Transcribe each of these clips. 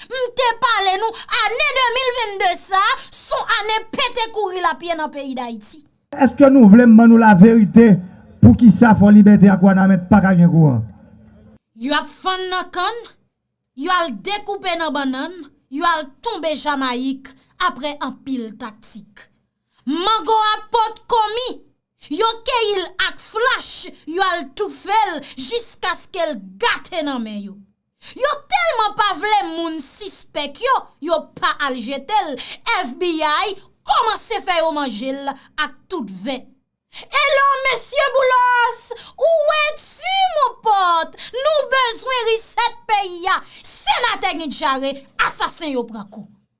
M te pale nou, ane 2022 sa, son ane pete kouri la pye nan peyi Dayiti. Eske nou vle m ban nou la verite pou kisa Fò Libète ak Wanament pa ka gen kouran? Yo ap fann nan kann, yo al dekoupe nan bannann, yo al tonbe Jamayik apre anpil taktik. Mango a pot ko mi, yo keyi l ak flach, yo al toufe l jiskaske l gate nan men yo. Yo telman pa vle moun sispek yo, yo pa al jetel, FBI komanse fè yo manjel ak tout ven. Elo mesye boulos ou we tu mon pot nou bezwen reset peyi a senate gen djare asasen yo pran kou.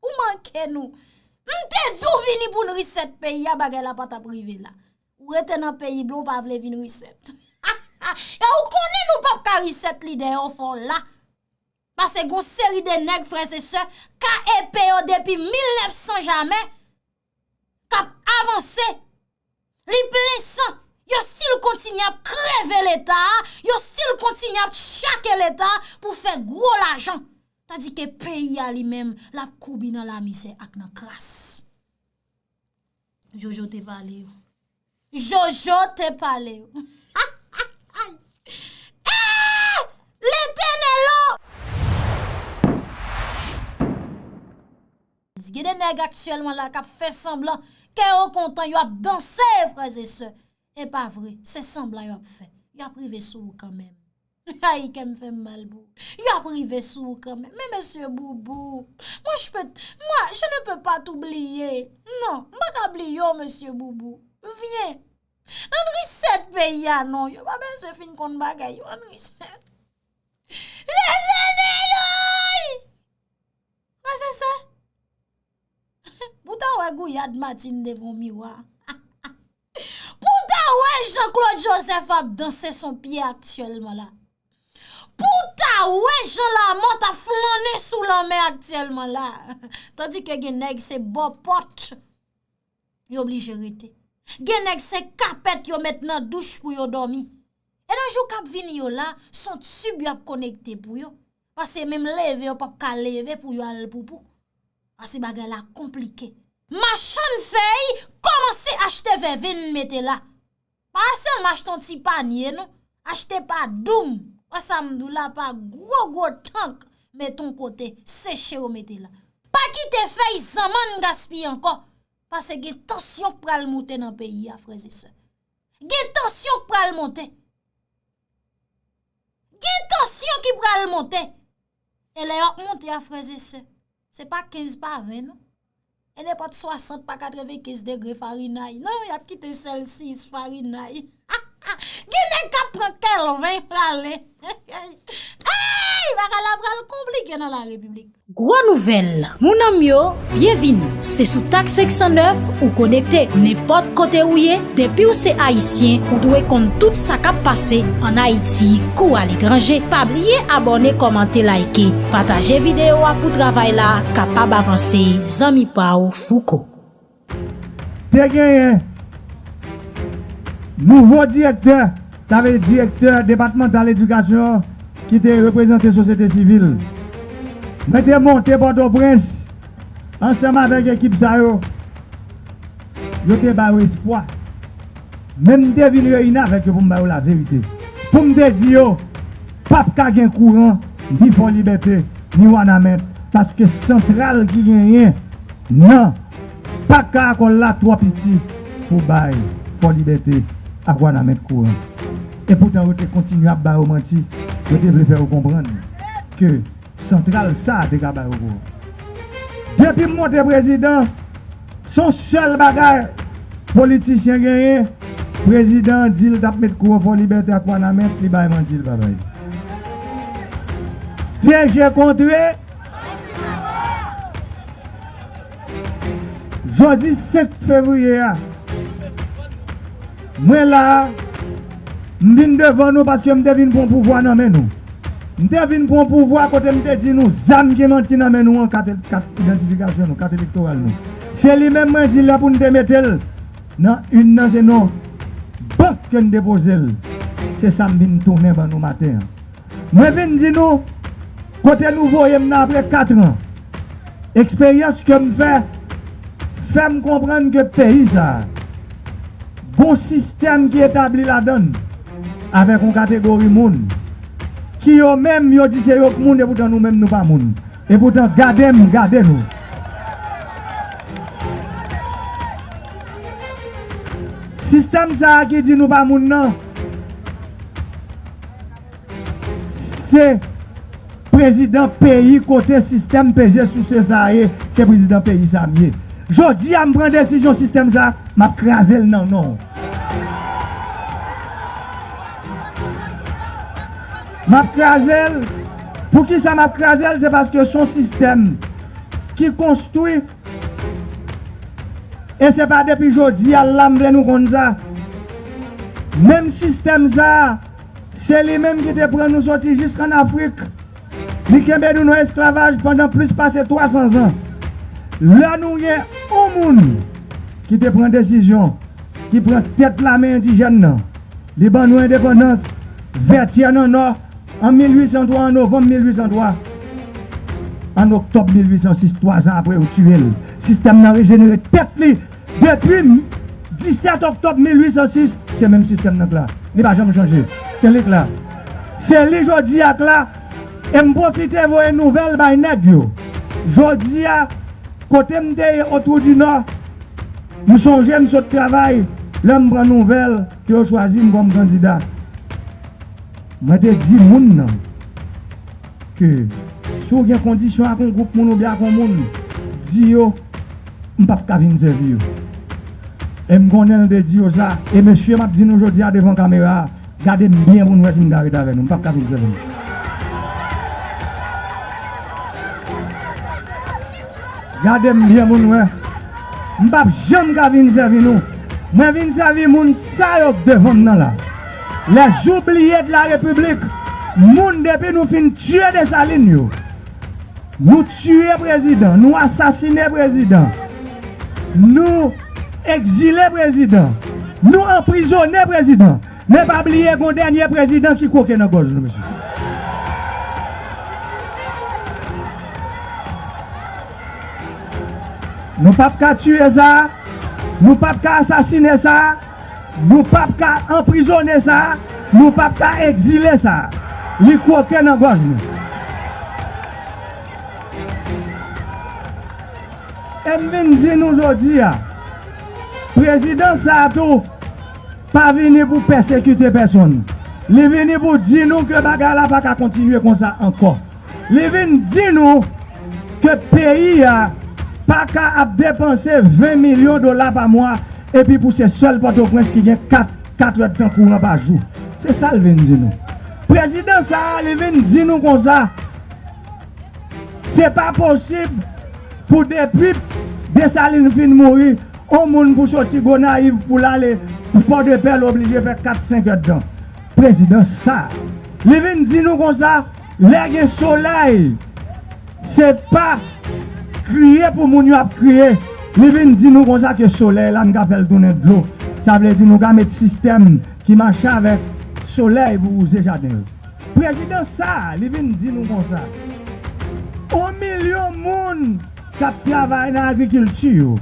Ou manke nou. M te di w vini pou n reset peyi a bagay la pa tap rive la. Ou rete nan peyi blan w pa vle vin reset. Ha ha e ou konnen nou pap ka reset lide yo fò w la. Pase gon seri de nèg frè se sè KEP yo depi 1900 jamè. kap avanse li plen san yo stil kontinye ap kreve leta yo stil kontinye ap chake leta pou fè gwo lajan tadi ke peyi a li menm lap koubi nan lamizè ak nan kras jojo te pale yo Jojo te pale Ayy Eeh letenel oh. Gen de nèg aktyèlman la kap fè sanblan kè yo kontan yo ap danse frèzesè epa vre se sanblan yo ap fè yo ap rive sou ou kanmenm. Ayy kèm fèm mal pou ou. Yo ap rive sou ou kan menm. Men mesye boubou. Mwen jpe t mwen je ne peux pas t'oubliye. Non. M pa ka bliye w mesye boubou. Vyen. Ann reset peyi a non. Yo pa bezwen fin konn bagay yo. Ann reset. Lezeneloy! Mwen se se. Pou ta wè gouyad Martine devan w miwa. Pou w ta wè Jean Claude Joseph ap danse son pye aktyèlman la. Pou w ta wè Jean Lamothe ap flannen sou lanmè aktyèlman la. Tandi ke gen nèg se bò pòt yo blije rete. Gen nèg se kapèt yo met nan douch pou yo dòmi. E nan jou kap vini yo la, son tib yo ap konekte pou yo. Pase menm leve yo pap ka leve pou yo al poupou. Pase bagay la konplike. Machann fèy kòmanse achte vèvenn mete la. Pa sèlman achte yon ti panye non. Achte pa doum. Wè sa m di w la pa gwo gwo tank mete yon kote seche yo mete la. Pa kite fèy zanmann gaspiye ankò. Pase gen tansyon k pral moute nan peyi a frè e sè. Gen tansyon k pral monte. Gen tansyon ki pral monte. E lè yòk monte a frèzese. Se pa 15 pa 20 non. E ne pot 60 pa 95 degre farinay. Non yap kite sèl 6 farinay. Ha ha. Gen nèk kap pran kèl 20 prale. Hey. Hey. Bagay la pral konplike nan la repiblik. Gwo nouvèl, mounanm yo, byenvini! Se sou TAK 509 ou konekte. Nenpòt kote ou ye, depi w se Ayisyen, ou dwe konn tout sa k ap pase ann Ayiti kou aletranje. Pa bliye abòne, kòmante, layike. Pataje videyo a pou travay la kapab avanse. Zanmi pa w, Fouco. Te genyen nouvo direktè, sa vle direktè depatmantal edikasyon ki te reprezante sosyete sivil. Mwen te monte Pòtoprens ansanm avèk ekip sa yo, yo te ba yo espwa. Men m te vin reyini avèk yo pou m ba yo laverite, pou m te di yo. Pap ka gen kouran ni Fò Libète ni Wanament paske santral ki genyen nan Pak Karakòl la twò piti pou bay Fò Libète ak Wanament kouran. Epoutan yo te kontinye ap ba yo manti, yo te vle fè yo konprann ke santral sa a te ka ba yo kouran. Depi m monte prezidan, Son sèl bagay politichyen genyen prezidan an dil tap met kou an fò libète ak wanament li bay manti li pa bay li dye je kontre jodi 5 fevriye a. Mwen la a, m vin devan nou paske m te vin pran pouvwa nan men nou. M te vin pran pouvwa kote m te di nou zam ki nan men nou an, kat idantifikasyon nou, kat elektoral nou. Se li menm mwen di la pou n te mete l nan urn nan se nan bank ke n depoze l. Se sa m vin tounen ban nou maten an. Mwen vin di nou, kote nou voye m nan apre katran, eksperyans ke m fè, fè m konprann ke peyi sa a, gon sistèm ki etabli ladan l, avèk yon kategori moun, ki yo menm yo di se yo k moun epoutan nou menm nou pa moun. Epoutan gade m, gade nou. Sistèm sa a ki di nou pa moun nan. Se prezidan peyi kote sistèm peze souse sa ye se prezidan peyi sa m ye jodi a m pran desizyon sistèm sa m ap kraze l nan non w m ap kraze l poukisa m ap kraze l se paske son sistèm ki konstwi E se pa depi jodi a la m vle nou konn sa. Menm sistèm sa a, se li menm ki te pran nou soti jis ann Afrik. Li kenbe nou nan esklavaj pandan plis pase 300 zan. Lè nou gen yon moun ki te pran desizyon, ki pran tèt lame endijèn nan, li ban nou endepandans, Vètyè nan nò, An 1803, an novanm 1803, an oktòb 1806, twazan apre yo tiye l, sistèm nan rejenere tèt li. Depi 17 oktòb 1806, se menm sistèm nan k la. Li pa janm chanje. Se li k la. Se li jodi a k la. E m pwofite voye nouvèl bay nèg yo. Jodi a, kote m te ye Otwoudinò, m sonje m sot travay lè m pran nouvèl ke yo chwazi m kòm kandida. Mwen te di moun nan ke si w gen kondisyon ak yon gwoup moun oubyen ak yon moun, di yo m p ap ka vin sèvi yo. E m konnen l te di yo sa. E mesye m ap di nou jodi a devan kamera a, gade m byen pou nou wè si m ka ret avè nou. M p ap ka vin sèvi nou. Gade m byen pou nou wè. M p ap janm ka vin sèvi nou. Mwen vin sèvi moun sa yo devan m nan la. Les oubliés de la République moun depi nou fin tiye Dessalines yo nou tiye prezidan nou asasine prezidan nou ekzile prezidan nou anprizone prezidan men pa bliye gon dènye prezidan ki kwoke nan gòj nou mesye nou pap ka tiye sa nou pap ka asasine sa. Nou pap ka anprizone sa, nou pap ka egzile sa. Li kwoke nan gòj nou. E m vin di nou jodi a, prezidans sa tou pa vini pou pèsekite pèsonn. Li vini pou di nou ke bagay la pa ka kontinye konsa ankò. Li vin di nou ke peyi a pa ka ap depanse 20 milyon dola pa mwa epi pou se sèl Pòtoprens ki gen 4 katrèdtan kouran pa jou. Se sa l vin di nou. Prezidan sa a li vin di nou konsa, se pa posib pou depi Desalin fin mouri, on moun pou soti Gonayiv pou l ale Pòdepè l oblije fè 4 senkèdtan. Prezidan sa a li vin di nou konsa Lè gen solèy se pa kriye pou moun yo ap kriye li vin di nou konsa ke solèy la nou ka fèl tounen dlo sa vle di nou ka met sistèm ki mache avèk solèy pou wouze jaden yo prezidan sa li vin di nou konsa on milyon moun kap travay nan agrikilti yo.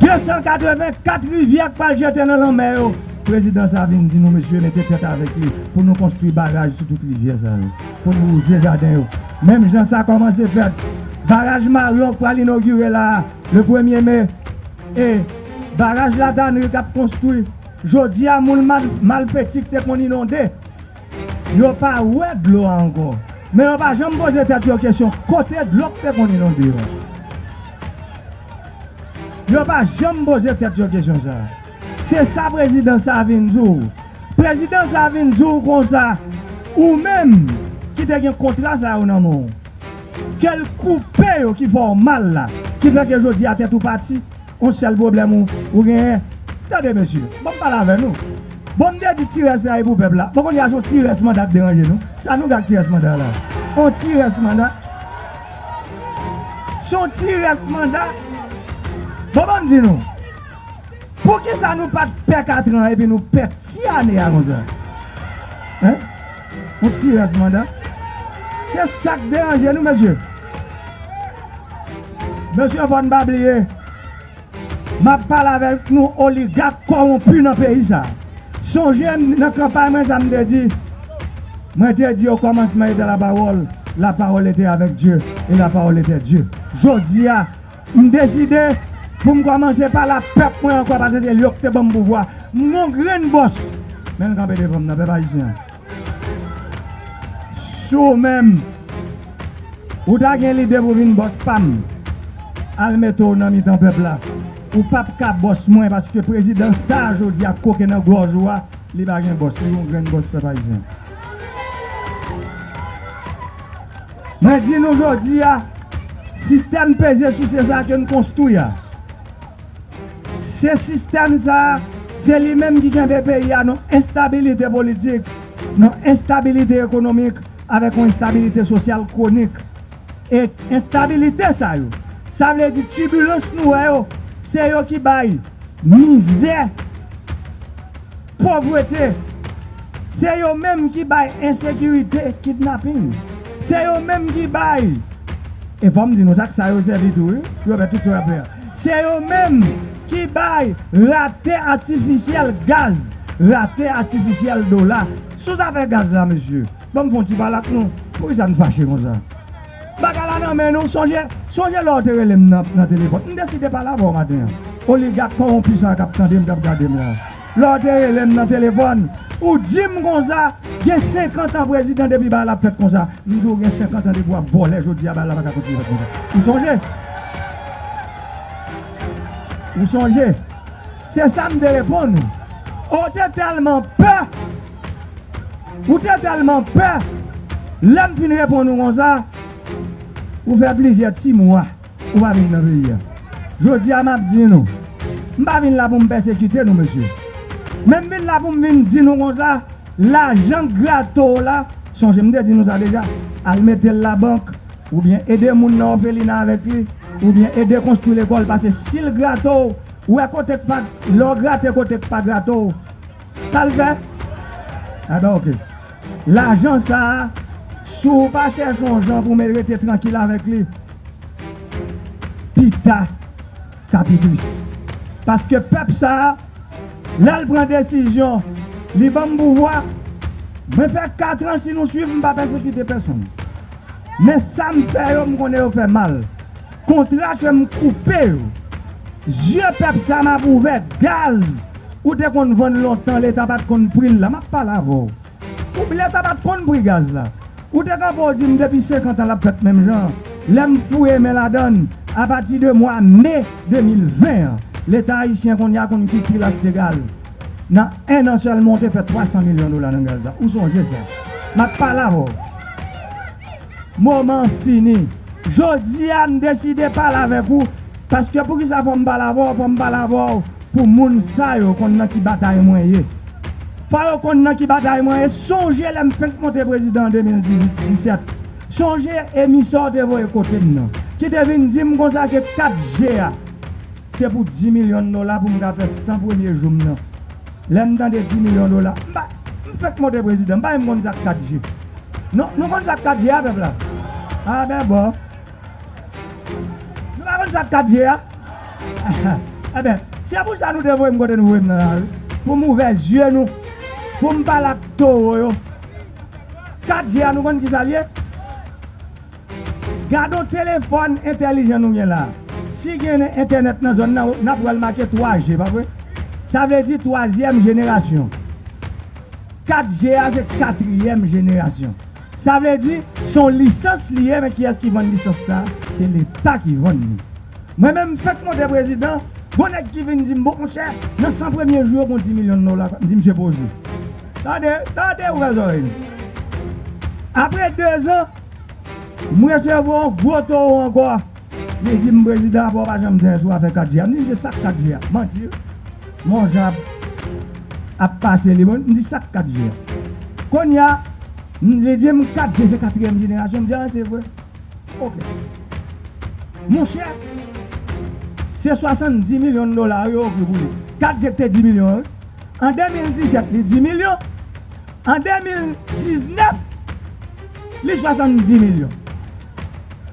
284 rivyè k pral jete nan lanmè yo, prezidan sa vin di nou mesye mete tèt avèk li pou nou konstwi baraj sou tout rivyè sa yo pou nou wouze jaden yo menm jan sa kòmanse fèt baraj maryon k pral inogire la a le premye me e baraj la tanri k ap konstwi jodi a moun malfeti k te konn inonde Yo pa wè dlo a ankò. Men yo pa janm poze tèt yo kesyon kote dlo k te konn inonde yo. Yo pa janm poze tèt yo kesyon sa. Se sa prezidan sa vin di w. Prezidan sa vin di w konsa, ou menm ki te gen kontra sa yo nan men w, ke l koupe yo ki fè w mal la, ki fè ke jodi a tèt ou pati. On sèl pwoblèm ou ou genyen Tande mesye, banm pale avè nou Bon m te di ti rès la e pou pèp la Bon kounya se yon ti rès manda k deranje nou Sa nou fè ak ti rès manda la On ti rès manda Se yon ti rès manda Bon banm di nou Poukisa nou pat pè katran epi nou pè ti ane a konsa Hein? Ou ti raz manda. Se sak deranje nou mesye. Mesye fòn pa bliye. Map pale avek nou oligak kowonpi nan peyi sa. Sonje nan kanpay mwen sa mte di. Mwen te di okomansman ete la pawol, la pawol ete avek Dye, e la pawol ete Dye. Jodia. M deside pou m kòmanse pale ak pèp mwen ankò paske se yo ki te ban m pouvwa. M gon grenn bòs men l kanpe devan m nan, pèp ayisyen an. Si w menm ou ta gen lide pou w vin bòs pa m, al mete w nan mitan pèp la. Ou pa p ka bòs mwen paske prezidan sa a jodi a koke nan gòj ou a, li pa gen bòs, li gon grenn bòs pèp ayisyen. Mwen di nou jodi a, sistèm peze souse sa ke n konstwi a, se sistèm sa, se li menm ki kenbe peyi a nan enstabilite politik, nan enstabilite ekonomik avèk yon enstabilite sosyal kwonik. E enstabilite sa yo, sa vle di tibilans nou wè yo, se yo ki bay mizè. Povrete, se yo menm ki bay ensekirite, kidnaping, se yo menm ki bay, e fò m di nou sa ak sa yo sèvi tou wi pou yo fè tout sa yo ap fè a, se yo menm ki bay rate atifisyèl gaz, rate atifisyèl dola. Sou zafè gaz la mesye, ban m fè yon ti pale ak nou, poukisa n fache konsa? Bagay la nan men nou, sonje, sonje lè w te rele m nan telefòn, m deside pale avè w maten an, oligak kowonpi sa a k ap tande m, k ap gade m la a. lè w te rele m nan telefòn, ou di m konsa, gen senkantan prezidan depi bagay la fèt konsa. M di w gen senkantan depi w ap vòlè jodi a bagay la pa ka kontinye fèt konsa. Ou sonje? Ou sonje? Se sa m te reponn ou. O w te tèlman pè, ou te tèlman pè, lè m fin reponn ou konsa, ou fè plizyè ti mwa. Ou pa vin nan peyi a. Jodi a m ap di nou, m pa vin la pou m pèsekite nou mesye. Men m vin la pou m vin di nou konsa, lajan grato w la, sonje m te di nou sa deja, al mete l labank, oubyen ede moun nan òfelina avèk li, oubyen ede konstwi lekòl pase si l grato w, ou wè kote k pa, lè w grate kote k pa grato w, sa l fè? Enben ok. Lajan sa a, si w pa chèche yon jan pou mèt rete trankil avèk li, pita k a pi tris. Paske pèp sa a, lè l pran desizyon, li ban m pouvwa, mwen fè katran si nou suiv m pa pèsekite pèsonn. Men sa m fè yo m konnen yo fè mal. Kontra ke m koupe yo, zye pèp sa a m ap ouvè gaz. Ou te konn vann lontan leta pat konn pri l la, m ap pale avè w. Ou leta pat konn pri gaz la. Ou te kanpe w di m depi 50 an l ap fèt menm jan an. Lè m fouye men ladan l, apati de mwa me 2020 an, leta ayisyen kounye a konn ki pri l achte gaz. Nan ennan sèlman w te fè 300 milyon dola nan gaz la. Ou sonje sa. M ap pale avè w. Moman an fini. Jodi a m deside pale avèk ou. Paske poukisa fòm pale avèw fòm pale avèw pou moun sa yo konn nan ki batay mwen ye fò yo konn nan ki batay mwen ye sonje lèm fenk monte prezidan an 2018 17 sonje emisè w te voye kotem nan ki te vin dim konsa ke 4 G a se pou 10 milyon dola poum ka fè 100 premye joum nan lèm tande 10 milyon dola m pa m fenk monte prezidan m pa menm konn sak 4 G non nou konn sak 4 G a pèp la a bè bò Nou pa konn sak 4 je a? Enben, se pou sa nou te voye m kote nou voye m nan lari, pou m ouvè zye nou, pou m pale ak towo yo. 4 je a nou konn kisa l ye? Gadon telefòn entèlijan nou gen la a. Si gen entènèt nan zòn nan, n ap wè l make 3 je, pa vre? Sa vle di twazyèm jenerasyon. 4 je a se katriyèm jenerasyon. Sa vle di se yon lisans li ye men kiyès ki vann lisans sa se leta ki vann li mwen menm m fèk monte prezidan gon nèg ki vin di m bon monchè nan 100 premye jou yo gon 10 milyon dola m di misye poze tande tande ouvè zòrèy nou apre 2 zan m resevwa yon gwo towo ankò. Li di m prezidan apa w pa janm di anyen sou afè 4G a. M di msye sak 4G a? Manti wi. M'en w jan ap pase li. M di sak 4G a? Kounye a li di m 4G se katriyèm jenerasyon. M di a se vre? Ok. Monchè se 70 milyon dola yo ofri pou li. 4G ki te 10 milyon an wi. An 2017 li 10 milyon. An 2019 li 70 milyon.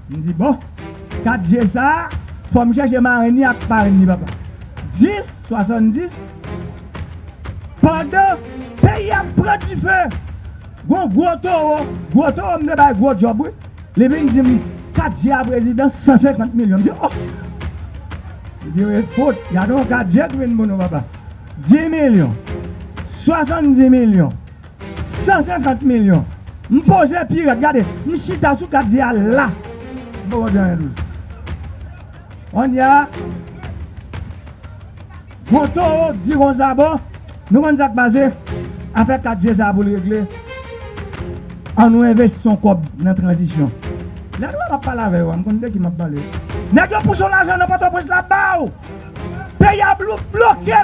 M di bon, 4 je sa, fò m chèche marenn li ak parenn li papa. 10, 70, pandan peyi ap pran dife, gon gwo towo, gwo towo m te bay gwo djòb wi, li vin di m, 4 je a prezidan, 150 milyon. M di oh! Li di wi, fout, gade yon 4 je ki vin pou nou papa. 10 milyon, 70 milyon. 150 milyon M poze pi rèd gade M chita sou kat di a la M poko di anyen toujou Kounye a Gwo towo k di kon sa bon Nou konn sa k pase Afè 4 je sa pou l regle An nou envesti yon kòb nan tranzisyon Lè nou wè m ap pale avè yo a M konn de ki m ap pale Nèg yo pouse yon lajan nan pòtoprens la ba w Peyi a bloke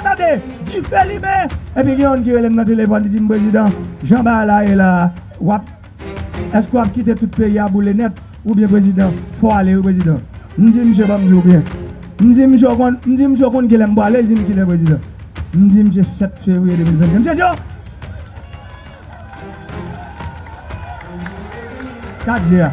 tande, dife limen epi gen youn ki rele m nan telefòn li di m prezidan jan bagay la ye la wap èske wap kite tout peyi a boule nèt oubyen prezidan fò w ale wi prezidan m di misye banm di w byen m di misye w konn m di misye w konn kilè m pral ale l di m kilè prezidan m di misye 7 fevriye 2022 misye di yo 4 je a.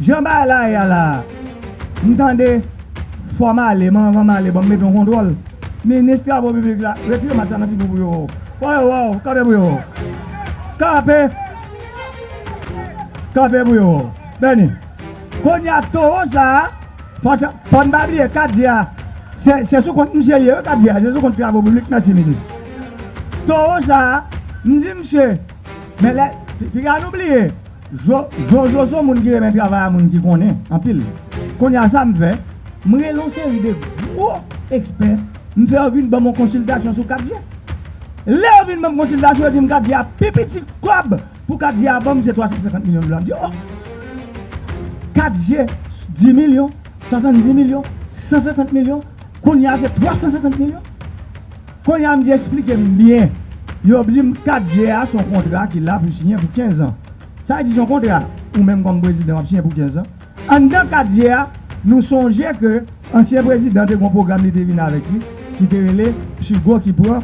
Jan bagay la ye a la a, m tande fò m ale, men anvan m ale ban m mete yon kontwòl. Minis travo piblik la, retire mask la nan figi w pou yo wè w. Fò yo wè w, kanpe pou yo wè w. Kanpe! Kanpe pou yo wè w. Bèni. Kounye a towo sa a, fò n pa bliye kat je a, se sou kont misye l ye wi kat je a, se sou kont travo piblik, mèsi minis. Towo sa a, m di misye, men lè, piga nou bliye. Jojo moun ki renmen travay a moun ki konnen anpil kounya sam fè m rele yon seri de gwo ekspè m fè yo vin banm yon konsiltasyon sou 4G lè yo vin banm konsiltasyon yo dim 4G a pi piti kòb pou 4G a banm se 350 milyon dola m di oh 4G 10 milyon 70 milyon 150 milyon kounya se 350 milyon. Kounye a m di eksplike m byen. Yo di m 4 je a s on kontra ki la pou siyen pou 15 an. Sa vle di s on kontra ou menm kòm prezidan w ap siyen pou 15 an. Anndan 4 je a, nou sonje ke ansyen prezidan te gen yon pwogram li te vin avèk li ki te rele PSUGO ki pran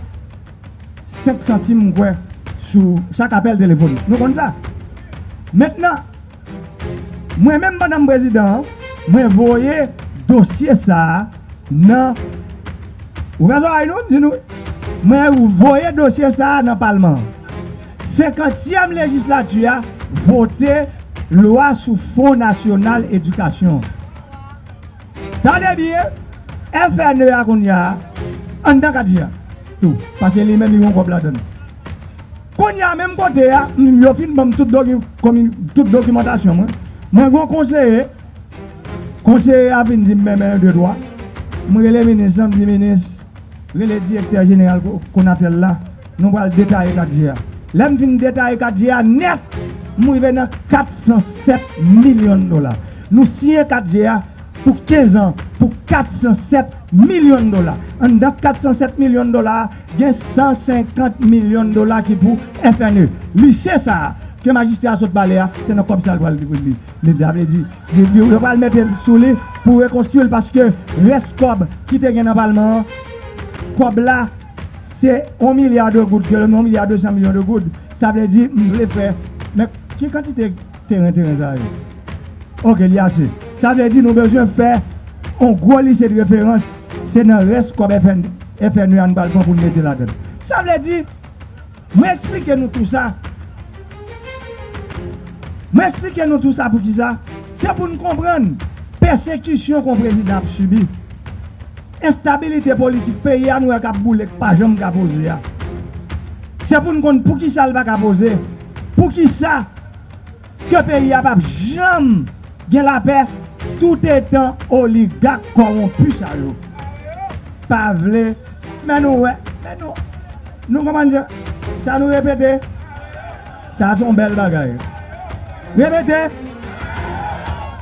5 santim m kwè sou chak apèl telefon. Nou konn sa. Mentnan. Mwen menm Madam Prezidan an, mwen voye dosye sa a nan, ouvè zòrèy nou, m di nou wi, mwen voye dosye sa a nan Palman an. Senkantyèm Lejislati a vote lwa sou Fon Nasyonal Edikasyon an. Tande byen, FNE a kounya, anndan kati a tou, paske li menm li gen yon kòb ladan l. Kounye a menm kote a yo fin ban m tout dokimantasyon mwen, mwen gen yon konseye, konseye a fin di m men men yon de twa, m rele minis lan m di minis rele direktè jeneral Konatel la nou pral detaye 4 je a. Lè m fin detaye 4 je a nèt m rive nan 407 milyon dola. Nou siyen 4 je a pou 15 an pou 407 milyon dola. Anndan 407 milyon dola a. Gen 150 milyon dola ki pou FNE. Lise sa a ke majistra a sot pale a, se nan kòb sa l pral li li. Li sa vle di, yo pral mete sou li pou rekonstui l paske rès kòb ki te gen nan palman an, kòb la se 1 milya de goud, 1 milya 200 milyon de goud. Sa vle di m vle fè men ki kantite. teren teren sa yo. Ok li ase. Sa vle di nou bezwen fè yon gwo lise de referans, se nan rès kòb FNE a nou pral pran pou nou mete ladann. Sa vle di, mwen eksplike nou tou sa, mwen eksplike nou tou sa pou ki sa, se pou nou konprann pèsekisyon kon prezidan ap sibi, enstabilite politik peyi a nou wè k ap boule k pa janm ka poze a. Se pou nou konn pou ki sa l pa ka poze. Poukisa ke peyi a pap janm gen lapè tout etan oligak kòwonpi sa yo pa vle men nou wè men nou nou konprann je sa nou repete sa son bèl bagay repete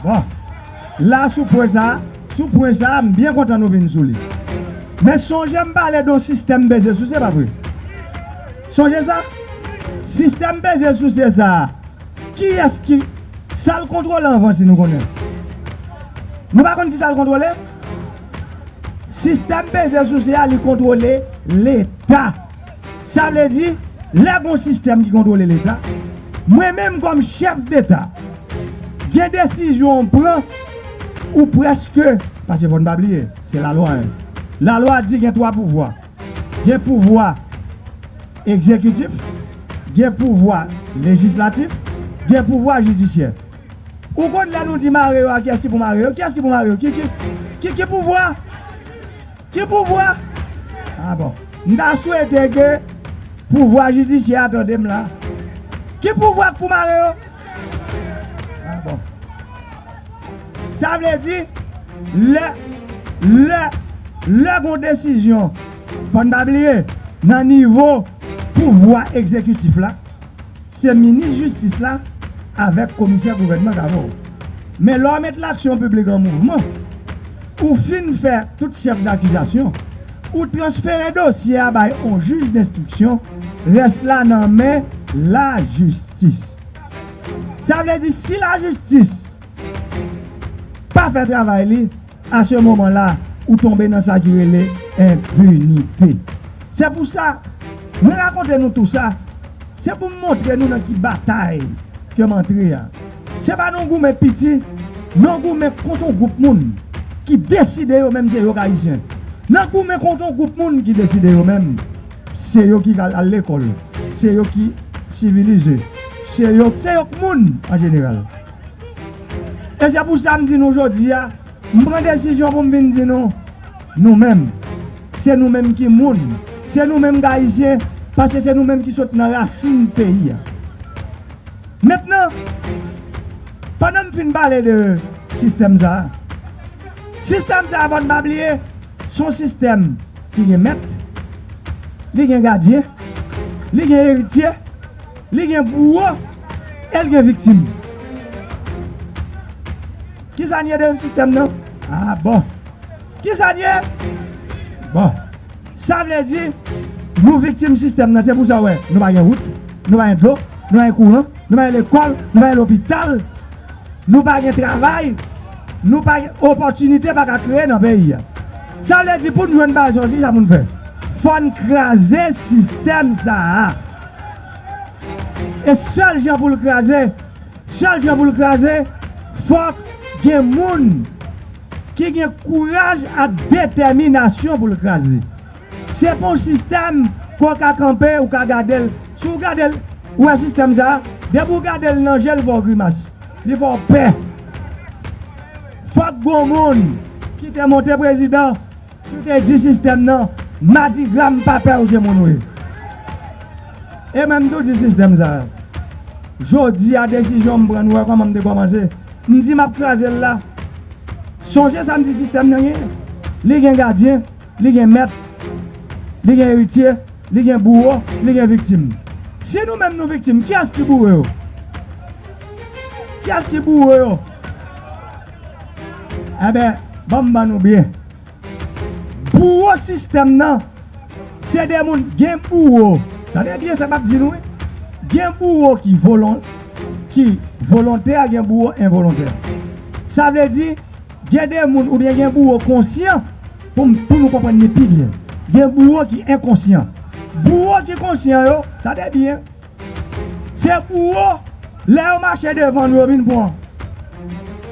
bon la sou pwen sa sou pwen sa m byen kontan nou vin sou li men sonje m pale don sistèm bese sou se pa vre. Sonje sa? Sistèm peze souse sa a, kiyès ki. Sa l kontwole anvan si nou konnen? Nou pa konn ki sa l kontwole? Sistèm peze souse a li kontwole Leta. Sa vle di, lè gon sistèm ki kontwole Leta, mwen menm kòm chèf deta, gen desizyon m pran ou prèske, pase fò n pa bliye, se lalwa, hein. Lalwa di gen twa pouvwa. Gen pouvwa egzekitif, gen pouvwa lejislatif, gen pouvwa jidisyè. Ou konn lè nou di mare yo a kiyès ki pou mare yo? Kiyès ki pou mare yo? Ki ki ki pouvwa? Ki pouvwa? A bon. M ta swete ke pouvwa jidisyè a tande m la. Ki pouvwa k pou mare yo? A bon. Sa vle di, lè, lè, lè gon desizyon, fò n pa bliye, nan nivo pouvwa egzekitif la, se minis jistis la avèk komisè gouvènman k avè w. Men lè w met laksyon piblik an mouvman, ou fin fè tout chèf dakizasyon, ou transfere dosye a bay on jij denstriksyon, rès la nan men lajistis. Sa vle di si la jistis pa fè travay li, a se moman la ou tonbe nan sa ki rele enpinite. Se pou sa, mwen rakonte nou tou sa, se pou m montre nou nan ki batay ke m antre a. Se pa nan goumen piti, nan goumen kont yon gwoup moun ki deside yo menm se yo k Ayisyen. Nan goumen kont yon gwoup moun ki deside yo menm. Se yo ki al lekòl. Se yo ki sivilize. Se yo k moun an jeneral. E se pou sa m di nou jodi a, m pran desizyon pou m vin di nou, nou menm, se nou menm ki moun, se nou menm k Ayisyen, paske se nou menm ki sot nan rasin peyi a. Mentnan, pandan m fin pale de sistèm sa a, sistèm sa a fò n pa bliye, Se yon sistèm ki gen mèt, li gen gadyen, li gen eritye, li gen bouwo e l gen viktim. Ki sa n ye deyim sistèm nan? A bon! Ki sa n ye? Bon! Sa vle di, nou viktim sistèm nan. Se pou sa w wè nou pa gen wout, nou pa gen dlo, nou pa gen kouran, nou pa gen lekòl, nou pa gen lopital, nou pa gen travay. Nou pa gen opòtinite pa ka kreye nan peyi a. Sa vle di pou n jwenn baz yo, ki sa pou n fè? Fò n kraze sistèm sa a. E sèl jan pou l kraze, sèl jan pou l kraze, fòk gen moun ki gen kouraj ak detèminasyon pou l kraze. Se pou w sistèm ke w ka kanpe ou ka gade l si w gade l ou wè sistèm sa depi w gade l nan je l fè w grimas li fè w pè fòk gon moun ki te monte prezidan ki te di sistèm nan madigra m pa pè w se moun w ye e mwen m tou di sistèm sa jodi a desizyon m pran nou wè kòman m te kòmanse m di m ap kraze l la sonje sa m di sistèm nan genyen li gen gadyen. li gen mèt, li gen eritye, li gen bouwo, li gen viktim. Si nou menm nou viktim, kiyès ki bouwo yo? Kiyès ki bouwo yo? Enben, ban m ban nou byen. Bouwo sistèm nan, se de moun gen bouwo, tande byen sa m ap di nou wi, gen bouwo ki volontè, gen bouwo envolontè. Sa vle di. Gen de moun oubyen gen bouwo konsyan pou m pou nou konprann li pi byen. Gen bouwo ki enkonsyan. Bouwo ki konsyan yo, tande byen, se bouwo lè yo mache devan nou yo vin pran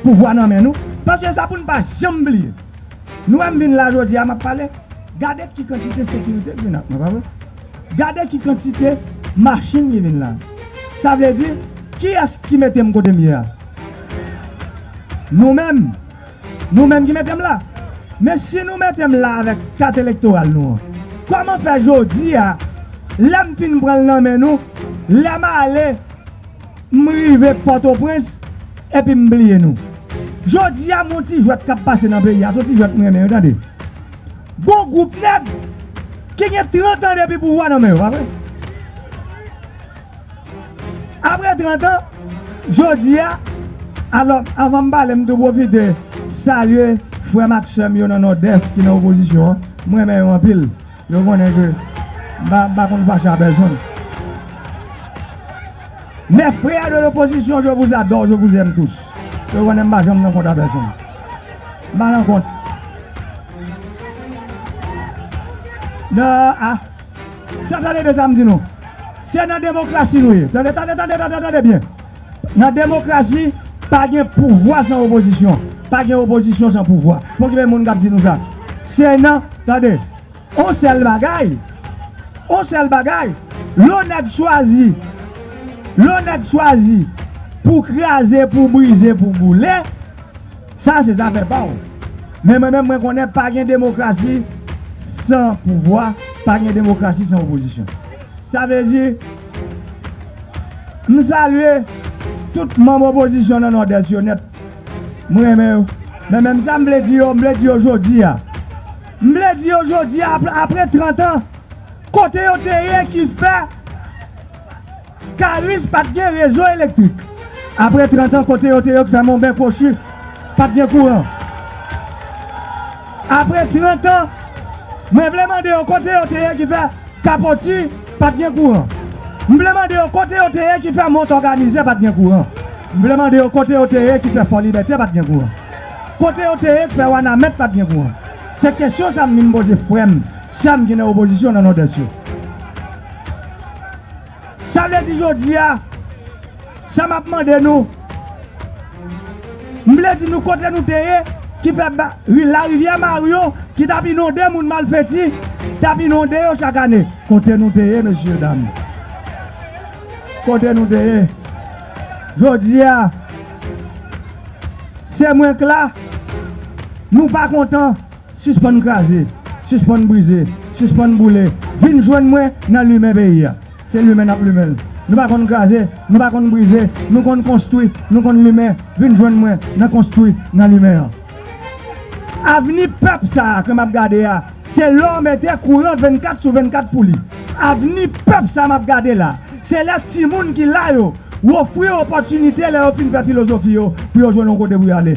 pouvwa nan men nou. Paske sa pou n pa janm bliye. Nou wè m vin la jodi a m ap pale, gade ki kantite sekirite k vin ak mwen, pa vre? Gade ki kantite machin li vin la. Sa vle di, kiyès ki mete m kote m ye a? Nou menm! Nou menm ki mete m la! Men si nou mete m la avèk kat elektoral nou an, kòman fè jodi a, lè m fin pran l nan men nou, lè m ale, m rive Pòtoprens, epi m bliye nou? Jodi a m on ti jwèt k ap pase nan peyi a, s on ti jwèt m renmen wi tande. Bon group nèg ki gen 30 ans depi pouvwa nan men yo pa vre? Aprè 30 ans jodia alò avanm pale m tou pwofite salye frèm ak sèm yo nan nòdès ki nan opozisyon an m renmen yo anpil yo konnen ke m pa m pa konn fache a pèsonn mes frères de l'opposition je vous adore je vous aime tous yo konnen m pa janm nan kont a pèsonn m pa nan kont. Nan a Sa tande byen sa m di nou Se nan demokrasi nou ye Tande tande tande tande tande byen Nan demokrasi Pa gen pouvwa san opozisyon Pa gen opozisyon san pouvwa Fò gen moun k ap di nou sa Se nan Tande On sèl bagay On sèl bagay Lò nèg chwazi Lò nèg chwazi Pou kraze pou brize pou boule Sa se zafè pa w. Men mwen menm mwen konnen pa gen demokrasi san pouvwa, pa gen demokrasi san opozisyon. Sa vle di, m salye tout manm opozisyon nan Nòdès yo nèt. M renmen yo. Men menm sa m vle di yo, m vle di yo jodi a. M vle di yo jodi a, apre trantan, kote yo te ye ki fè. Karis pat gen rezo elektrik. Apre 30 an kote yo te yo k fè monben kwochi pat gen kouran. Apre 30 an mwen vle mande yo kote yo te ye ki fè kapoti pat gen kouran. M vle mande yo kote yo te ye ki fè mont òganize pat gen kouran. M vle mande yo kote yo te ye ki fè fò libète pat gen kouran. Kote yo te ye k fè wanament pat gen kouran. Se kesyon sa m vin poze frè m, sè m ki nan opozisyon nan nòdès yo. Sa vle di jodi a, sa m ap mande nou, m vle di nou kote nou te ye ki fè larivyè Maryo ki t ap inonde moun malfèti, t ap inonde yo chak ane. Kote nou te ye mesye dam? Kote nou te ye? Jodi a, se mwen k la, nou pa kontan. Sispann kraze, sispann brize, sispann boule, vin jwenn mwen nan limen peyi a. Se limen n ap limen l. Nou pa konn kraze, nou pa konn brize, nou konn konstwi, nou konn limen, vin jwenn mwen nan konstwi, nan limen an. Avni pèp sa a ke m ap gade a, se lè w mete kouran 24 sou 24 pou li. Avni pèp sa m ap gade la, se lè timoun ki la yo, w ofri yo opòtinite lè yo fin fè filozofi yo pou yo jwenn yon kote pou y ale.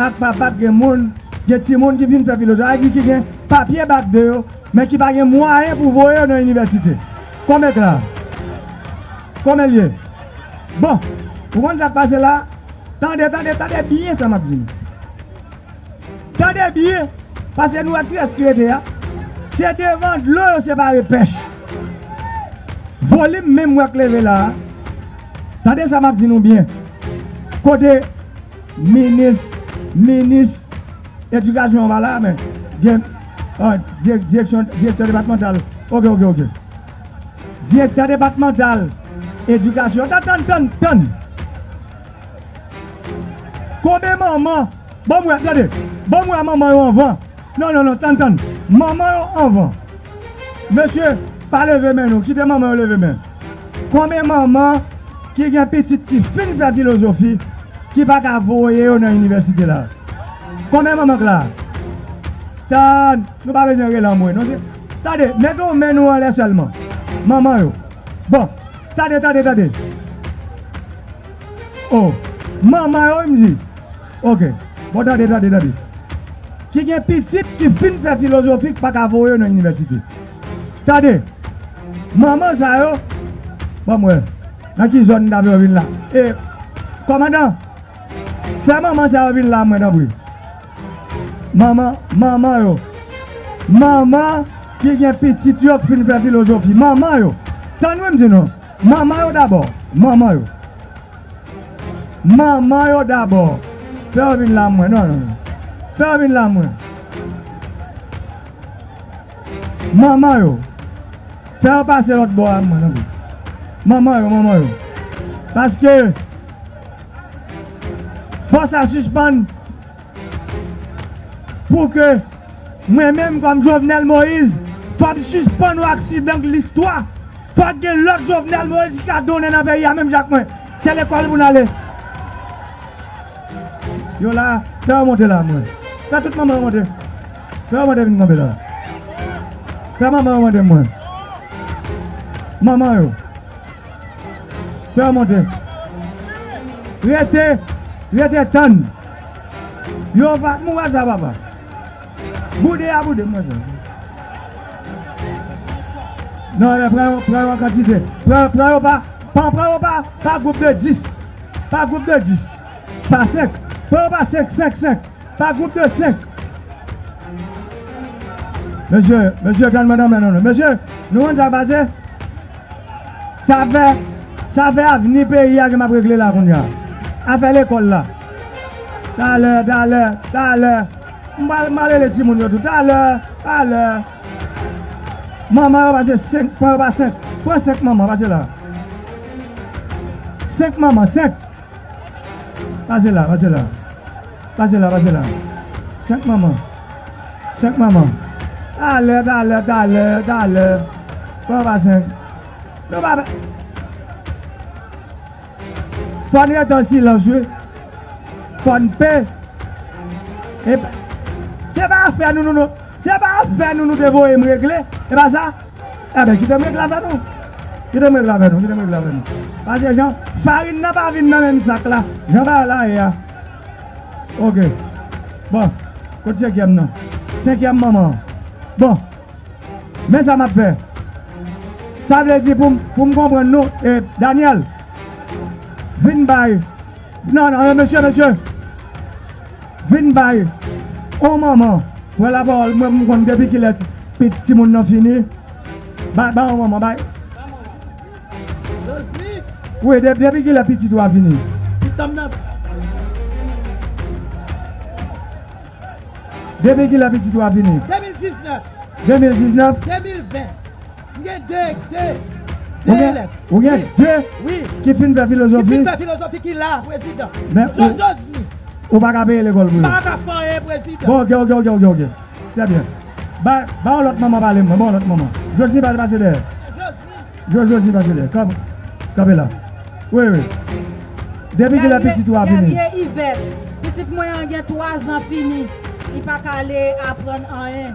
ak papa gen moun, gen timoun ki fin fè filo, sa vle di ki gen papye bak 2 yo, men ki pa gen mwayen pou voye yo nan inivèsite. Konbyen k la? Konbyen l ye? Bon, ou konn sa k pase la? Tande, tande, tande byen sa m ap di nou. Tande byen, pase nou wè ti rès ki rete a, se devan dlo yo separe pèch. Volim menm wè k leve la a. Tande sa map di nou byen kote minis minis edikasyon an pa la men gen direksyon direktè depatmantal ok ok ok direktè depatmantal edikasyon tan tan tan tan konbe manman banm wè tande banm wè manman yo anvan nan nan nan tan tan manman yo anvan mesye pa leve men nou kite manman yo leve men. Konbyen manman ki gen pitit ki fin fè filozofi ki pa ka voye yo nan inivèsite la? Konbyen manman k la? Ta nou pa bezwen rele anmwe non se tande mete yon men nou anlè sèlman manman yo bon tande tande tande o manman yo wi m di ok bon tande tande tande ki gen pitit ki fin fè filozofi k pa ka voye yo nan inivèsite. Tande! Manman sa yo! Banm wè. Nan ki zòn dam yo vin la? E! Kòmandan! Fè manman sa yo vin la mwen tanpri. Manman, manman yo. Manman ki gen pitit yo k fin fè filozofi. Manman yo! Tann wi m di nou. Manman yo dabò. Manman yo. Manman yo dabò. Fè yo vin la mwen. Non, non. Fè yo vin la mwen. Manman yo Fè yo pase lòt bò a mwen tanpri Manman yo Manman yo Paske Fò sa sispann Pou ke Mwen menm kòm Jovenel Moïse Fòm sispann yon aksidan k listwa Fòk gen lòt Jovenel Moïse ki ka donnen nan peyi a menm jan ak mwen Se lekòl pou n ale Yo la Fè yo monte la mwen Fè tout manman yo monte. Fè yon mande vin kanpe la. Fè manman yo mande mwen. Manman yo. Fè yo monte. Rete, rete tann. Yo va, m wè sa papa. Boude a boude, m wè sa. Non, lè pran yo, pran yo an kantite. Pran, pran yo pa, pa pran yo pa, pa gwoup de 10. Pa gwoup de 10. Pa 5. Pran yo pa 5, 5, 5. Pa gwoup de 5. Mesye, mesye tann mwen nan men nou non. Mesye, nou konn sa k pase? Sa fè, sa fè avni peyi a ke m ap regle la kounye a. Afè lekòl la. Talè, talè, talè. M pral, m pral rele timoun yo tou. Talè, talè. Manman yo pase 5, pran yo pa 5. Pran 5 manman, pase la. 5 manman, 5. Pase la, pase la. Pase la, pase la. Senk manman. Senk manman. Talè, talè, talè, talè. Pran pa senk. Nou pa pe. Fò n rete an silans wi. Fò n pe. Se pa afè nou nou. Se pa afè nou nou te voye m regle. E pa sa? Ebyen kitem regle avè nou Kitem regle avè nou Kitem regle avè nou Pase jan Farin nan pa vin nan menm sak la Jan bagay la ye a Ok Bon Kot senkyèm nan Senkyèm manman an Bon Men sa map fè Sa vle di poum poum konprann nou E Daniel Vin bay Non non mesye mesye Vin bay on manman pran la parole mwen m konn depi kilè pit timoun nan fini bay bay on manman bay wi depi kilè pitit ou a fini. Depi kilè pitit ou a fini. 2019. 2019. 2020. M gen 2 2 2 elèv. Ou gen 2 ki fin fè filozofi? Ki fin fè filozofi ki la prezidan. Jean Josny. Ou pa ka peye lekòl pou yo? M pa ka fè anyen prezidan. Bon ok ok ok ok trè byen. Ba yon lòt manman pale mwen, ba yon lòt manman. Josny pase dèyè. Josny. Josny pase dèyè. Kanpe la. Wi wi. Depi kilè pitit ou a fini? Guerrier Yvette. Pitit mwen an gen 3 zan fini. Li pa ka ale aprann anyen.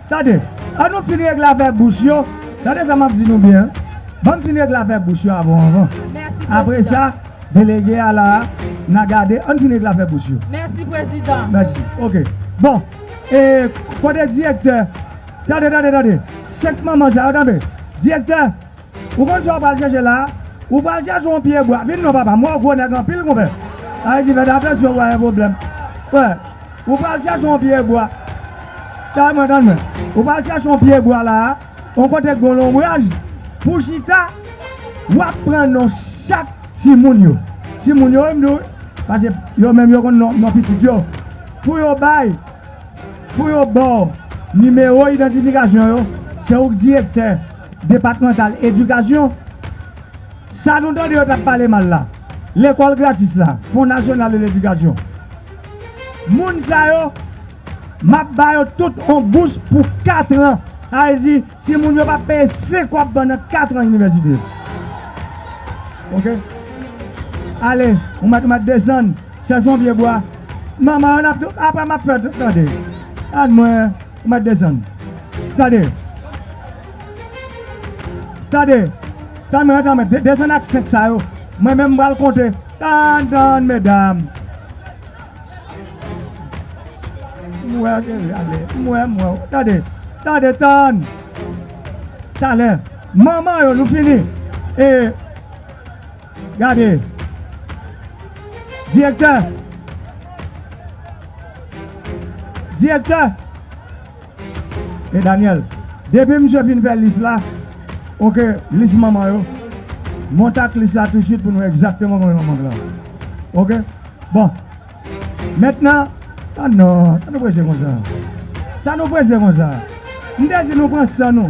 Tande, an nou fin regle afè bous yo, tande sa m ap di nou byen, ban m fin regle afè bous yo avon anvan. Apre sa, delege a la a, n a gade, an n fin regle afè bous yo. Mèsi prezidan. Mèsi. Oke. Bon, e kote direktè? Tande, tande, tande! Senk manman sa yo, tande! Direktè! Ou konn sa w pral chèche la a? Ou pral chèche yon pye bwa. Vin non papa m wè w gwo nèg anpil konpè. Ayiti fèt atansyon ou ka gen pwoblèm. Wè, ou pral chèche yon pye bwa. Tande mwen, tande mwen. Ou pral chèche yon pye bwa la a, yon kote k gon lonbraj pou w chita. W ap pran non chak timoun yo. Timoun yo wi m di w wi. Paske yo menm yo konn non pitit yo. Pou yo bay, pou yo ba w nimewo idantifikasyon yo. Se ou k direktè. Depatmantal edikasyon, sa nou tande yo tap pale mal la, lekòl gratis la, fon nasyonal de ledikasyon, moun sa yo map ba yo tout on bous pou 4 an, sa vle di ti moun yo pap peye 5 wap ban nan 4 an inivèsite. Ok ale ou mèt ou mèt desann chèche on pye bwa manman yo nap tou apre map fè tout tande. Gad mwen. Ou mèt desann. Tande. Tande. Tann mwen antann mwen. Desann ak 5 sa yo. Mwen menm m pral konte. Tann tann medam. M wè w cheri ale. M wè m wè w. Tande. Tande tann. Talè. Manman yo nou fini. E. Gade! Direktè! Direktè! E Daniel, depi misye fin fè lis la, ok, lis manman yo, monte ak lis la tousuit pou nou wè egzakteman konbyen manman Blan yo. Ok? Bon. Mentnan, oh non, sa nou prese konsa? Sa nou prese konsa? M te di nou pran san nou.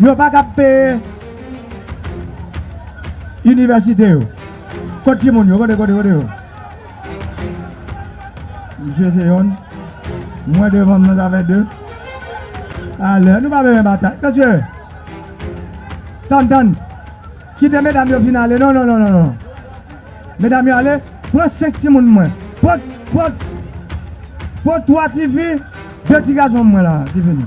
Yo pa kab peye inivèsite yo. Kot ti moun yo? Kote, kote, kote yo? Misye se yonn. Mwen devan m nan sa fè 2. Alè, nou pa bezwen batay. Mesye, tann, tann. Kite medam yo fin ale. Non, non, non, non, non. Medam yo ale. Pran 5 ti moun mwen. Pran, pran, pran 3 ti fi, 2 ti gason mwen la ki vini.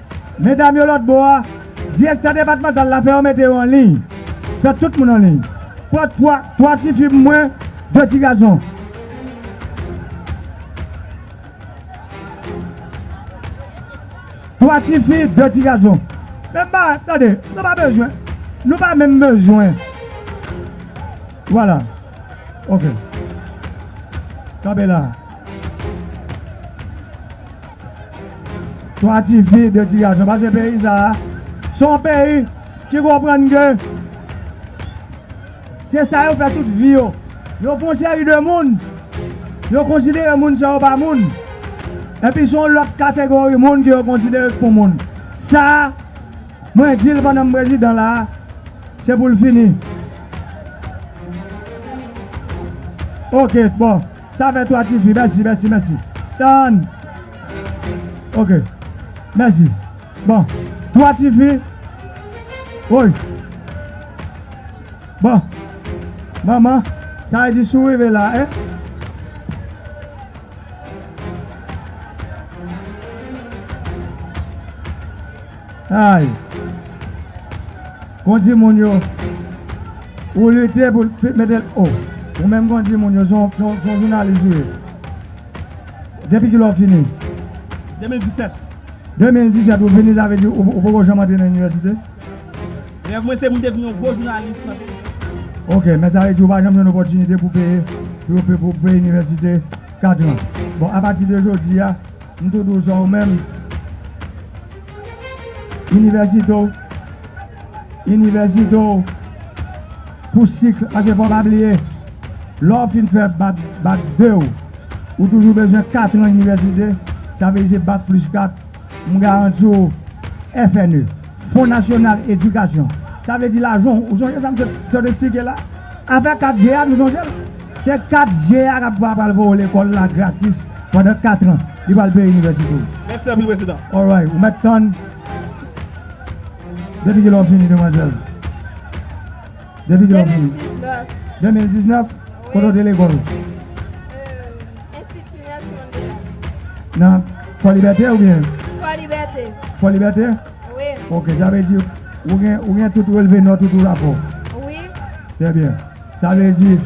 Medam yo lòt bò a, direktè depatmantal la fè yo mete yo an liy. Fè tout moun an liy. Pran twa, twa ti fi pou mwen, de ti gason. Twa ti fi, de ti gason. Menm bagay, tande, nou pa bezwen, nou pa menm bezwen. Vwala. Ok. Kanpe la. 3 ti fi, 2 ti gason pase peyi sa a se yon peyi ki konprann ke se sa yo fè tout vi yo yo gon seri de moun yo konsidere moun sa yo pa moun epi se yon lòt kategori moun ke yo konsidere k pou moun sa a mwen di l pandan m prezidan la a se pou l fini ok bon Sa fè 3 tifi mèsi mèsi mèsi tann ok mèsi bon 3 tifi woy bon manman sa vle di si w rive la e. Ay! Kondi moun yo, ou lite pou l mete l o. Ou menm kondi moun yo, se yon jounalis ou ye. Depi kilè ou fini? 2017. 2017 ou fini, sa vle di ou poko janm antre nan inivèsite? Rèv mwen se pou m te vin yon gwo jounalis nan peyi m. Ok, men sa vle di ou pa janm jwenn opòtinite pou peye pou peye inivèsite katran. Bon, apati de jodi a. M tou dou jan w menm. Inivèsite w Inivèsite w Pou sikl Paske fò w pa bliye lè w fin fè bak bak 2 w ou toujou bezwen katran inivèsite sa vle di se bak plis 4 m garanti w FNE. Fon nasyonal edikasyon, sa vle di lajan w, ou sonje sa msye sot eksplike la? Afè 4 je a nou sonje l? Se 4 je a kap va pral voye w lekòl la gratis pandan 4 an, li pral peye inivèsite w. Mèsi anpil prezidan. Alright, ou mèt tann depi kilè w fini demwazèl? Depi kilè w fini? 2019. 2019? Kote w te lekòl? Enstiti Nelson Mandela. Nan Fòlibète ou byen? Fòlibète. Fòlibète? Wi. Ok, sa vle di ou gen ou gen tout relve nòt ou tout rapò? Wi. Trè byen. Sa vle di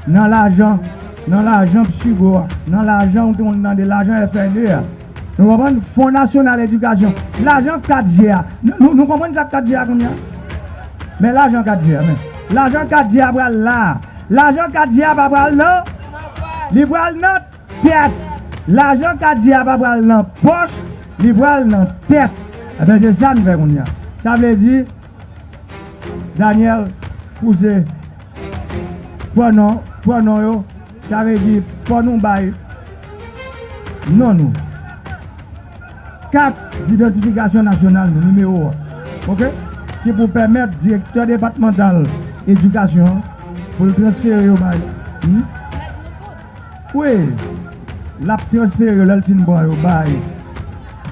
nan lajan nan lajan Psigo a, nan lajan ou konn tande lajan FNE a, nou konprann Fon Nasyonal Edikasyon, lajan 4 je a, nou konprann sa 4 je a kounye a? Men lajan 4 je a men. Lajan 4 je a pral la a. Lajan 4 je a pa pral nan. Li pral nan tèt. Lajan Kadjy a pa pral nan pòch, li pral nan tèt. Enben se sa n fè kounye a. Sa vle di Daniel pouse pwonon, pwonon yo. Sa vle di fò nou bay non nou. Kat didantifikasyon nasyonal nou, nimewo a, ok, ki pou pèmèt direktè depatmantal edikasyon an pou l transfere yo bay li, wi, l ap transfere yo lè l fin pran yo bay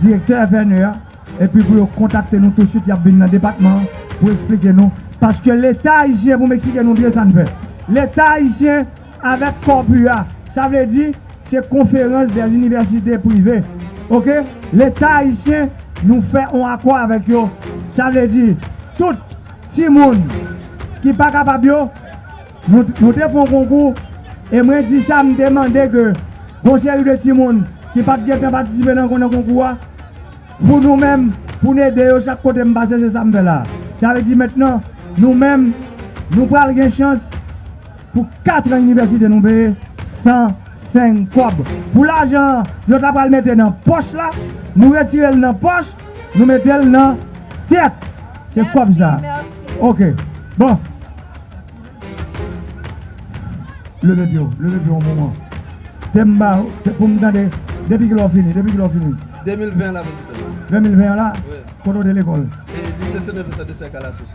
direktè FNE a, epi pou yo kontakte nou tousuit, y ap vin nan depatman an pou eksplike nou, paske Leta ayisyen, pou m eksplike nou byen sa n fè, Leta ayisyen. Avèk Corpua, sa vle di, se Conférence des Universités Privées, ok, Leta Ayisyen, nou fè on akò avèk yo, sa vle di, tout timoun ki pa kapab yo, nou, nou te fon konkou, e mwen di sa, m te mande ke gon seri de timoun ki pa t gen tan patisipe nan nan konkou a, pou nou menm, pou n ede yo chak kote m pase, se sa m fè la a. Sa vle di mentnan, nou menm, nou pral gen chans. Pou 4 an inivèsite nou peye 105 kòb. Pou lajan an yo ta pral mete nan pòch la, nou retire l nan pòch, nou mete l nan tèt. Se kòb sa. Ok. Bon. Leve pye w. Leve pye w yon moman. Te m ba w, pou m tande, depi ki lè w fini? Depi ki lè w fini? 2020 an la, Prezidan. 2020 an la? Wi. Kote w te lekòl? Lise Senefe Sèdesè Kalasous.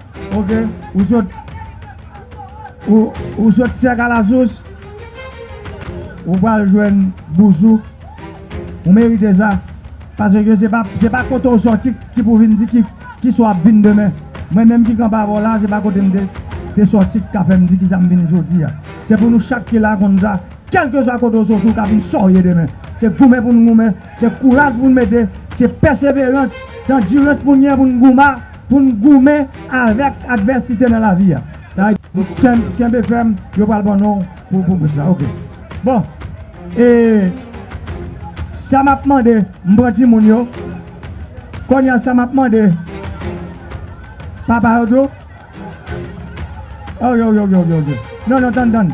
Ok ou sot Ou sot sèk alasous Ou pral jwenn bouzou Ou merite sa Paske se pa kote ou soti Ki pou vin di ki sa w ap vin demen Mwen menm ki kanpe avè w la Se pa kote m te soti Ki ka fè m di ki sa m vin jodi a Se pou nou chak ki la konn sa Kèlkeswa kote ou soti Ou ka vin sa w ye demen Se goumen pou n goumen Se kouraj pou n mete Se pèseverans Se andirans pou n gen pou n goumen Pou n goumen avèk advèsite nan lavi a. Sa a di kenbe fèm, yo pral ban non w pou bous la. Ok. Bon, e sa m ap mande, m pran timoun yo. Kounye a sa m ap mande papa yo tou. Oyoyoyoyoyo. Non, non, tann, tann.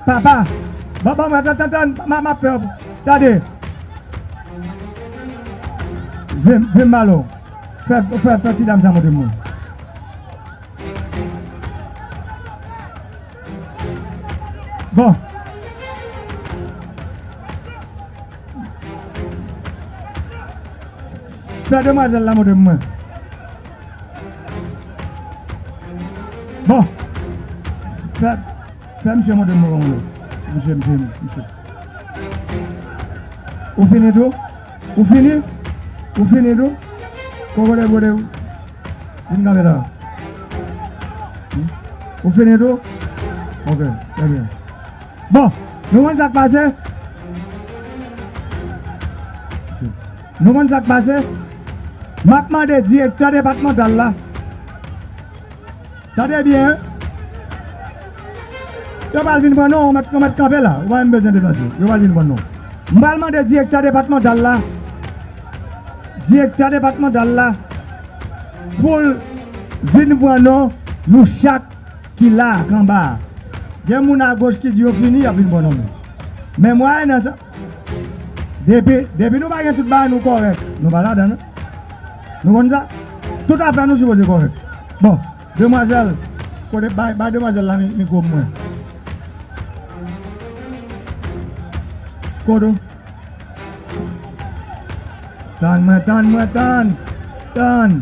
Papa Bon bon mwen tan tan ma ma pè Tande Vim vim malo Fè fè fè ti dam sa montre mwen Bon Fè demwazel la montre mwen. Bon. Fè fè misye montre mwen koman yo. Misye misye misye. Ou fini tou? Ou fini? Ou fini tou? Koman lè gode ou? Vin kanpe la. Ou fini tou? Ok, trè byen. Bon, nou konn sa k pase? Nou konn sa k pase? M ap mande direktè depatmantal la, tande byen, yo pral vin pran nou, nou mèt kanpe la, ou pa menm bezwen deplase, yo pral vin pran nou. M pral mande direktè depatmantal la, direktè depatmantal la pou l vin pran nou, nou chak ki la ak anba a. Gen moun agoch ki di yo fini, y ap vin pran nou menm. Men mwen nan sa. Depi, depi nou pa gen tout bagay nou kòrèk, nou pa ladan l. Nou konn sa? Tout afè nou sipoze kòrèk. Bon, demwazèl, kote, bay, bay demwazèl la mikwo pou mwen. Kote ou? Tann mwen, tann mwen, tann! Tann!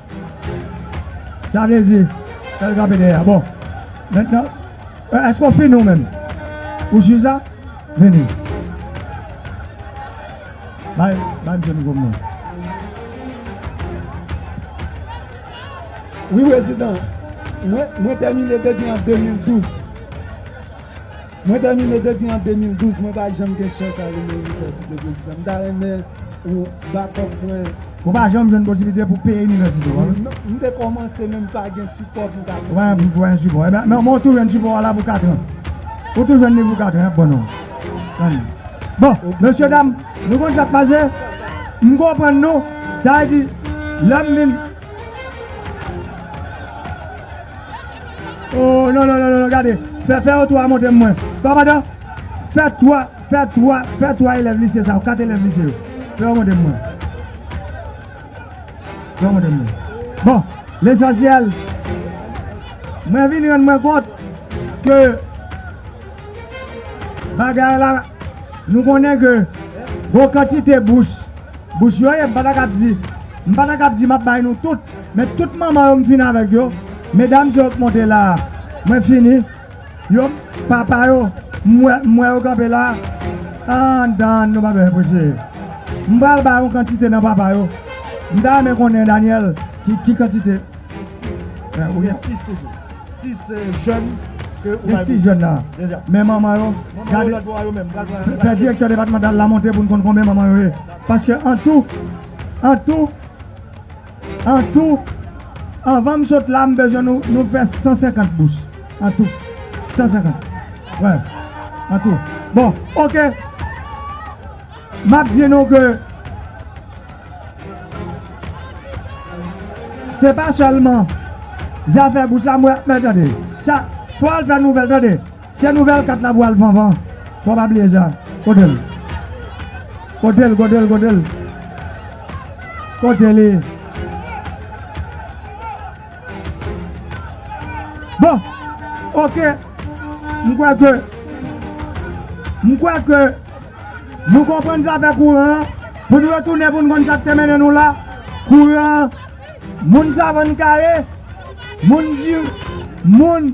Sa vle di, fèl kanpe dèyè a. Bon, mentnan, e, èske ou fini ou menm? Ou jis la? Vini. Bay, bay msye mikwo m non. Wi prezidan, mwen, mwen tèmine depi an 2012. Mwen tèmine depi an 2012 mwen pa janm gen chans ale nan inivèsite prezidan m ta renmen ou backup mwen. Ou pa janm jwenn posiblite pou peye inivèsite w an? M te kòmanse men m pa gen sipò pou m ka kontinye. Ou pa janm jwenn sipò ebyen men ou tou jwenn sipò w la pou 4 an. Ou tou jwenn li pou 4 an yap ban ou. Bon mesye dam nou konn sak pase m konprann nou sa vle di lèm vin Oh non non non non gade Fè fè yo 3 montre mwen Ba madan Fè 3 Fè 3 Fè 3 elèv lise sa yo 4 elèv lise yo Fè yo montre mwen Fè yo montre mwen Bon Lesansyèl Mwen vin rann mwen kont Ke Bagay la Nou konnen ke Bon kantite bous Bous yo ye m pa ta ka ap di M pa ta ka ap di m ap bay nou tout, men tout manman yo m fini avèk yo, medam sa yo k monte la a mwen fini, yo papa yo m wè m wè yo kanpe la a anndan an nou pa bezwen prese. M pral bay yon kantite nan papa yo, m ta renmen konnen Daniel ki kantite ou gen. Gen 6 toujou, 6 jèn ke ou bay pou. Gen 6 jèn la a, men manman yo gade fè direktè depatmantal la monte pou n konn konbyen manman yo ye paske antou. An tou An tou Anvan m sot la m bezwen nou nou fè 150 bous An tou 150 Wè An tou Bon ok M ap di nou ke Se pa sèlman Zafè bous la m wè Men tande Sa Fò al fè nouvèl tande Se nouvèl 4 la vwal vanvan fò pa bliye sa kotel kotel kotel kotel kote li bon ok m kwè ke m kwè ke nou konprann zafè kouran an pou nou retounen pou nou konn sak te mennen nou la kouran an moun savann kare moun moun.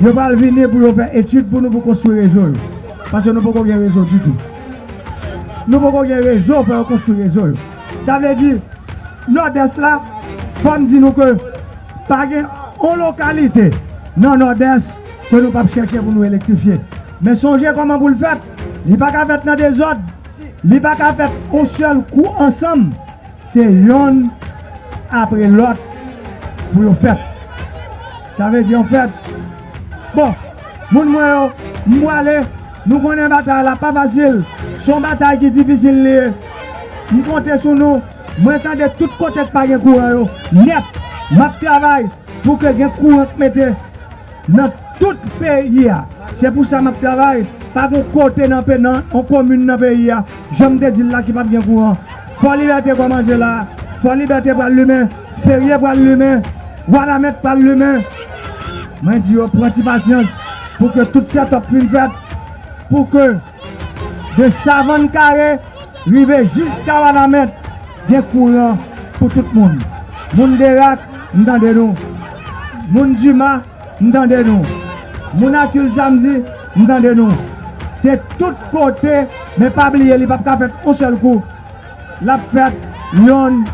Yo pral vini pou yo fè etid pou nou pou konstwi rezo yo. Paske nou poko gen rezo ditou. Nou poko gen rezo fò yo konstwi rezo yo. Sa vle di Nòdès la fò m di nou ke pa gen on lokalite nan Nòdès ke nou pap chèche pou nou elektrifye. Men sonje kòman pou l fèt. Li pa ka fèt nan dezòd. Li pa ka fèt on sèl kou ansanm. Se yonn apre lòt pou yo fèt. Sa vle di yon fèt. Bon, moun mwen yo, m pwale. Nou konnen batay la pa fasil. Se yon batay ki difisil li ye. M konte sou nou. Mwen tande tout kote k pa gen kouran yo nèt. M ap travay pou ke gen kouran k mete. Nan tout peyi a. Se pou sa map travay. Pa gon kote nan pe nan on komin nan peyi a, janm te dil la ki pap gen kouran. Fò libète kòmanse la. Fò libète pral limen. Ferye pral limen. Wanament pral limen. Mwen di yo pran ti pasyans pou ke tout set up fin fèt. Pou ke. De Savann Kare rive jiska Wanament gen kouran pou tout moun. Moun Derak m tande nou. Moun Dima m tande nou. Moun Akil Samdi m tande nou. Se tout kote men pa bliye li pap ka fèt on sèl kou. Lap fèt yonn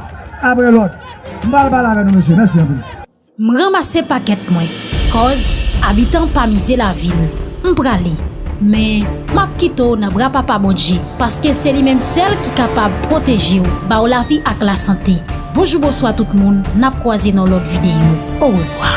apre lòt. M pral pale avè nou mesye. Mèsi anpil. M ranmase pakèt mwen kòz abitan pa mize lavi l M prale men m ap kite w nan bra papa Bondje paske se li menm sèl ki kapab pwoteje w ba w lavi ak lasante Bonjou bonswa tout moun n ap kwaze nan lòt videyo orevwa.